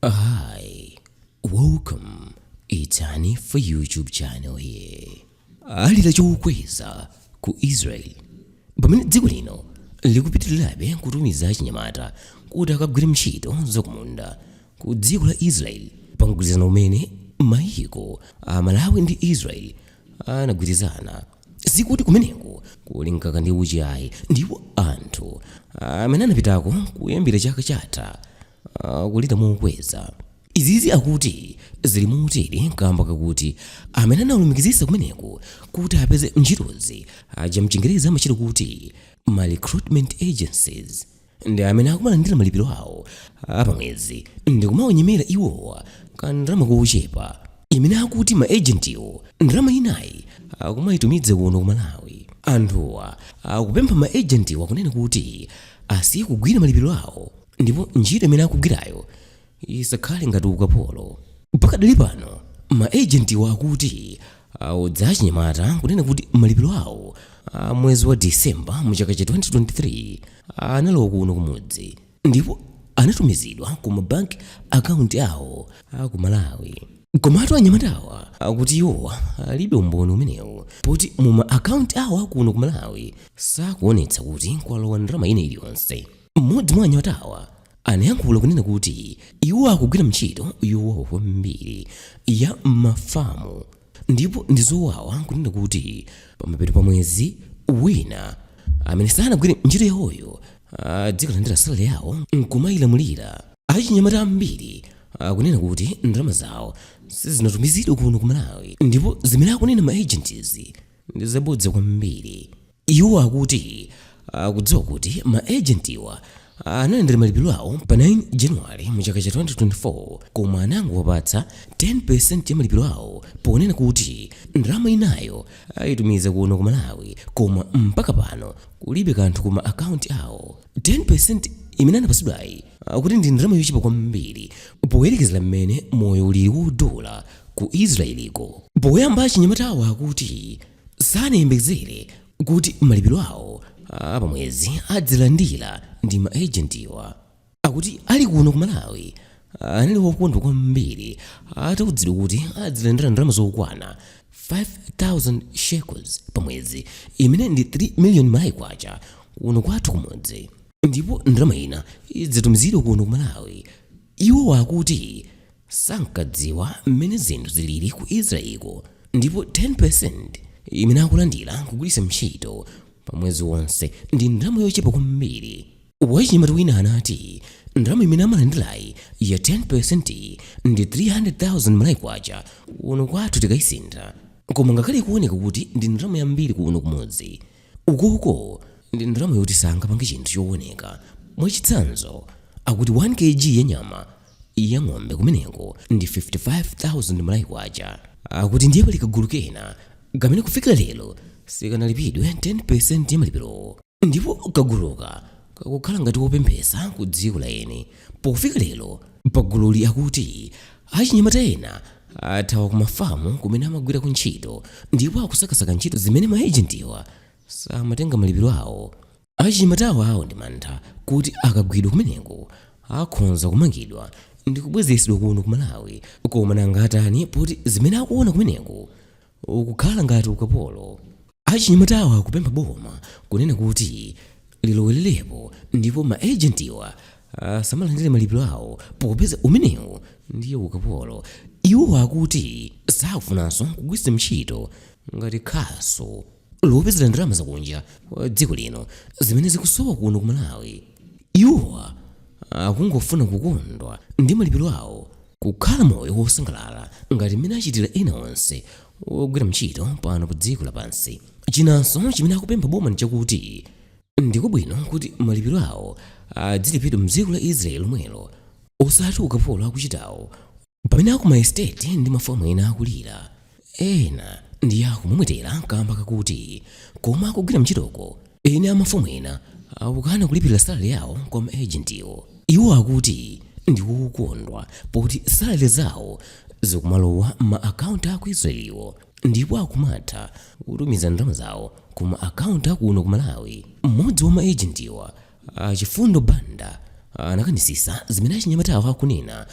Hi, welcome. It's Hanifa YouTube channel here. Alira chokweza ku Israel. Pamene dziko lino likupitirirabe kutumiza achinyamata kuti akagwire ntchito zakumunda ku dziko la Israel pa mgwirizano umene mayiko a Malawi ndi Israel anagwirizana. Sikuti kumeneko kuli mkaka ndi uchi ayi ndipo anthu amene anapitako kuyambira chaka chatha akulira mokweza. Izizi akuti zili motere kamba kakuti amene anawalumikizitsa kumeneko kuti apeze ntchitozi aja mchingerezi amachitcha kuti ma recruitment agencies ndi amene akumalandira malipiro awo apamwezi ndi kumawanyemera iwowa kandalama kochepa imene akuti ma agentiwa ndalama inayi akumayitumiza kuno ku Malawi. Anthuwa akupempha ma agentiwa kunena kuti asiye kugwira malipiro awo ndipo ntchito imene akugwirayo isakhale ngati ukapolo pakadali pano ma agentiwa akuti awauza achinyamatawa kunena kuti malipiro awo a mwezi wa disemba mu chaka cha 2023 analowa kuno kumudzi ndipo anatumizidwa ku mabanki akaunti awo a ku malawi komatu anyamatawa akuti iwowa alibe umboni umenewu poti mu ma akaunti awo akuno ku malawi sakuonetsa kuti kwalowa ndalama ina iliyonse Mmodzi mwa anyamatawa anayankhula kunena kuti iwo akugwira ntchito yowawa kwambiri ya m'mafamu ndipo ndi zowawa kunena kuti pamapeto pa mwezi wina amene sanagwire ntchito yawoyo adzikalandira salary yawo nkumayilamulira. Achinyamata ambiri akunena kuti ndalama zawo sizinatumizidwe kuno ku Malawi ndipo zimene akunena ma agents ndi zabodza kwambiri. Iwo akuti akudziwa kuti ma ejentiwa analandira malipiro awo pa 9 January mu chaka cha 2024 koma anangowapatsa 10% ya malipiro awo ponena kuti ndalama inayo ayitumiza kuno ku Malawi koma mpaka pano kulibe kanthu ku ma akaunti awo. 10% imene anapatsidwayi akuti ndi ndalama yochepa kwambiri poyerekezera mmene moyo ulili wodula ku Israel-ko. Poyamba achinyamatawa akuti sanayembekezere kuti malipiro awo a pamwezi adzilandira ndi ma agentiwa akuti ali kuno ku malawi anali wokondwa kwambiri atauzidwa kuti adzilandira ndalama zokwana 5000 shekels pamwezi imene ndi 3 million malawi kwacha kuno kwathu kumudzi ndipo ndalama ina idzitumizidwa kuno ku malawi iwo akuti sankadziwa mmene zinthu zilili ku Israel'ko ndipo 10% imene akulandira n'kugwiritsa ntchito pa mwezi wonse ndi ndalama yochepa kwambiri. Wachinyamata wina anati, Ndalama imene amalandirayi ya 10% ndi 300,000 Malawi kwacha kuno kwathu tikaisintha. Koma ngakhale ikuoneka kuti ndi ndalama yambiri kuno kumudzi, ukoko ndi ndalama yoti sangapange chinthu chooneka. Mwachitsanzo, akuti 1 kg ya nyama ya ng'ombe kumeneko ndi 55,000 malawi kwacha akuti ndiye pali kagulu kena kamene kufikira lero sikanalipidwe 10% ya malipirowo ndipo kaguluka kakukhala ngati wopemphesa ku dziko la eni pofika lero pagululi akuti achinyamata ena athawa ku mafamu kumene amagwirako ntchito ndipo akusakasaka ntchito zimene maejentiwa samatenga malipiro awo Achinyamatawa ali ndi mantha kuti akagwidwa kumeneko akhonza kumangidwa ndikubwezedwa kuno ku Malawi koma nanga atani poti zimene akuona kumeneko kukukhala ngati ukapolo. Achinyamatawa akupempha boma kunena kuti lilowelerepo ndipo ma agent-wa asamalandire malipiro awo popeza umenewu ndiye ukapolo. Iwo akuti sakufunanso kugwiritsidwa ntchito ngati khasu. lopezera ndalama zakunja kwa dziko lino zimene zikusowa kuno ku malawi iwowa akungofuna kukondwa ndi malipiro awo kukhala moyo wosangalala ngati mmene achitira ena onse ogwira ntchito pano pa dziko lapansi chinanso chimene akupempha boma ndi chakuti ndikwabwino kuti malipiro awo adzilipidwa mdziko la israeli lomwelo osati ukapolo akuchitawo pamene akumaesiteti ndi mafamu ena akulira ena ndi akumwemwetera kamba kakuti komwe akugwira ntchitoko eni amafamu ena akukana kulipira salale yawo kwa maejentiwo iwo akuti ndi okondwa poti salale zawo zikumalowa mma akaunti aku israeliwo ndipo akumatha kutumiza ndalama zawo ku ma akaunti akuno ku malawi mmodzi wa maejentiwa Chifundo Banda anakanitsitsa zimene achinyamatawa akunena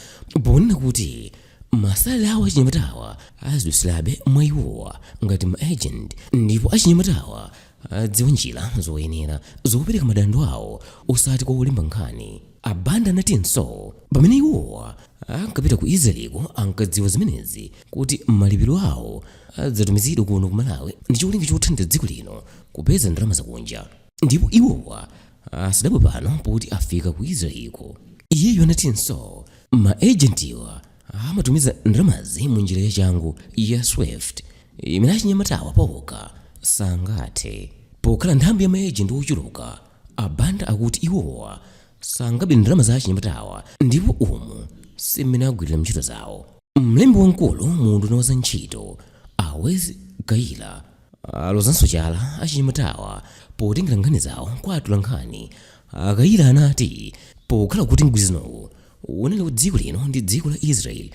ponena kuti masalale awo achinyamatawa azidutsirabe mwa iwowa ngati ma agent ndipo achinyamatawa adziwa njira zoyenera zopereka madando awo osati kwa olemba nkhani. A Banda anatinso pamene iwowa ankapita ku Israel-ko ankadziwa zimenezi kuti malipiro awo adzatumizidwa kuno ku Malawi ndi cholinga chothandiza dziko lino kupeza ndalama zakunja. ndipo iwowa asadabwe pano poti afika ku israelko iyeyo anatinso ma agentiwa amatumiza ndalamazi mu njira yachangu ya swift imene achinyamatawa paokha sangathe pokhala nthambi ya maejenti ochuluka abanda akuti iwowa sangabe ndalama za achinyamatawa ndipo umu simene agwirira ntchito zawo mlembi wamkulu mu unduna wa za ntchito a Wezi Kayira alozanso chala achinyamatawa potengera nkhani zawo kwa atolankhani. A Kayira anati pokhala kuti mgwirizanowu unali wa dziko lino ndi dziko la Israel,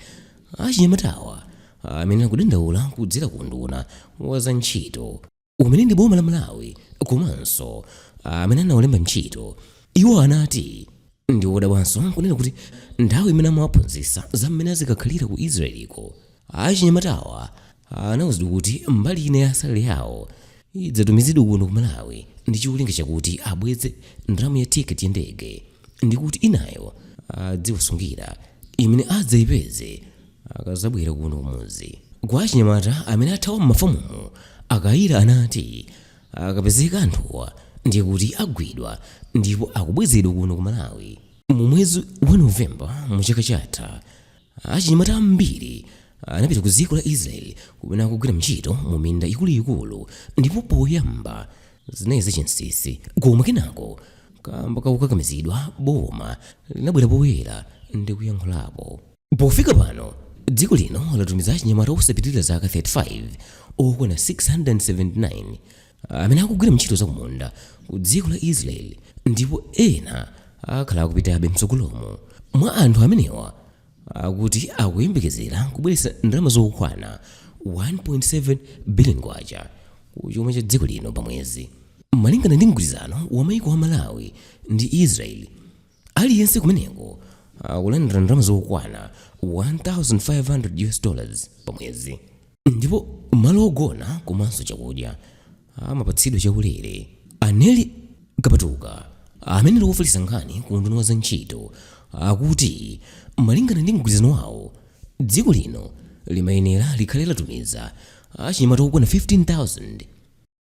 achinyamatawa amayenera kudandaula kudzera ku unduna wa za ntchito, umene ndi boma la Malawi komanso amene anawalemba ntchito. Iwo anati ndi odabwanso kunena kuti nthawi imene amawaphunzitsa za mmene azikakhalira ku Israel-ko, achinyamatawa anauzidwa kuti mbali ina ya salale yawo idzatumizidwe kuno ku malawi ndi cholinga chakuti abweze ndalama ya tiketi ya ndege ndi kuti inayo adziwasungira imene adzayipeze akadzabwera kuno kumudzi kwa achinyamata amene athawa m'mafamumo a Kayira anati akapezeka anthuwa ndiye kuti agwidwa ndipo akubwezedwa kuno ku malawi mu mwezi wa novemba mu chaka chatha Achinyamata ambiri anapita ku dziko la Israeli kumene akugwira ntchito mu minda ikuluikulu ndipo poyamba zinali zachinsinsi koma kenako kamba kakukakamizidwa boma linabwera poyera ndi kuyankhulapo. Pofika pano, dziko lino latumiza achinyamata osapitirira zaka 35 okwana 679. amene akugwira ntchito zakumunda ku dziko la israeli ndipo ena akhala akupitabe mtsogolomu mwa anthu amenewa akuti akuyembekezera kubweretsa ndalama zokwana 1.7 billion kwacha ku chuma cha dziko lino pamwezi malingana ndi mgwirizano wa maiko a malawi ndi israeli Aliyense kumeneko akulandira ndalama zokwana 1500 US dollars pa mwezi ndipo malo ogona komanso chakudya amapatsidwa chaulere. A Nellie Kapatuka amene ali wofalitsa nkhani ku unduna wa za ntchito akuti malingana ndi mgwirizano wawo dziko lino limayenera likhale latumiza achinyamata okwana 15000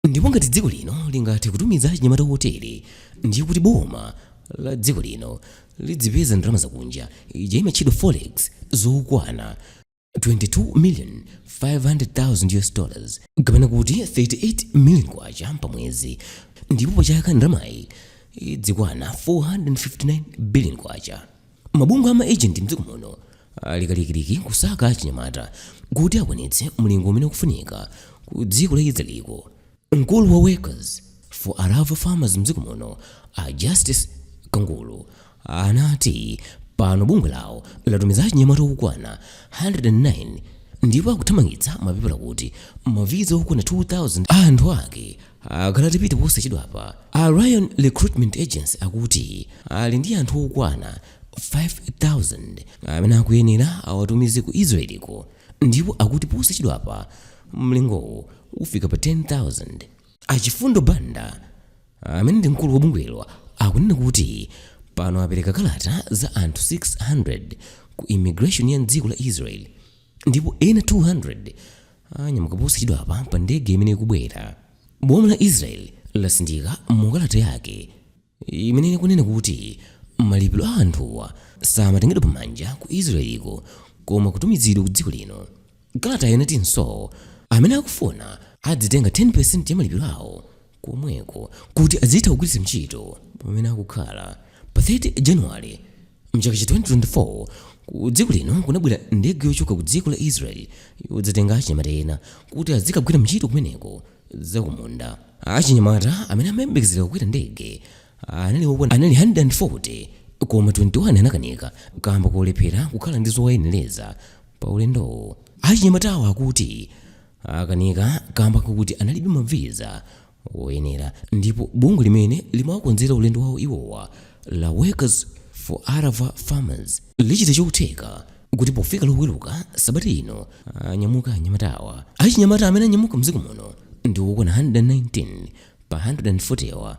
ndipo ngati dziko lino lingathe kutumiza achinyamata otere ndiye kuti boma la dziko lino lidzipeza ndalama zakunja ija imatchedwa forex zokwana 22 million 500,000 US dollars kapena kuti 38 million kwacha pamwezi ndipo pachaka ndalamayi idzikwana 459 billion kwacha mabungwe ama agent mdziko muno ali kalikiliki kusaka achinyamata kuti akwanitse mlingo umene ukufunika ku dziko la israeliko mkulu wa workers for arava farmers mdziko muno a justice kangulu anati pano bungwe lawo latumiza achinyamata okwana 109 ndipo akuthamangitsa mapepala kuti maviza okwana 2000 a anthu ake akalatipite posachedwapa, a Ryan Recruitment Agency akuti ali ndi anthu okwana 5,000 amene akuyenera awatumize ku Israeli-ko ndipo akuti posachedwapa mlingowo ufika pa 10,000. A Chifundo Banda, amene ndi mkulu wa bungwelo akunena kuti pano apereka kalata za anthu 600 ku immigration ya m'dziko la Israeli ndipo ena 200 Anyamuka posachedwapa pa ndege imene ikubwera. Boma la Israel latsindika mu kalata yake imene ikunena kuti malipiro a anthuwa samatengedwa pa manja ku Israel-ko koma kutumizidwa ku dziko lino. Kalatayo inatinso amene akufuna adzitenga 10% ya malipiro awo komweko kuti azitha kugwiritsa ntchito pamene akukhala. Pa 30 January, Mchaka cha 2024 ku dziko lino kunabwera ndege yochoka ku dziko la Israel yodzatenga achinyamata ena kuti azikagwira ntchito kumeneko zakumunda. Achinyamata amene amayembekezera kukwera ndege anali 140 koma 21 anakanika kamba kolephera kukhala ndi zowayenereza pa ulendowo. Achinyamatawo akuti akanika kamba kakuti analibe ma visa oyenera ndipo bungwe limene limawakonzera ulendo wawo iwowa la Workers for Arava Farmers lichita chotheka kuti pofika loweruka sabata ino anyamuka anyamatawa. Achinyamata amene anyamuka mdziko muno ndi okwana 119 pa 140 wa.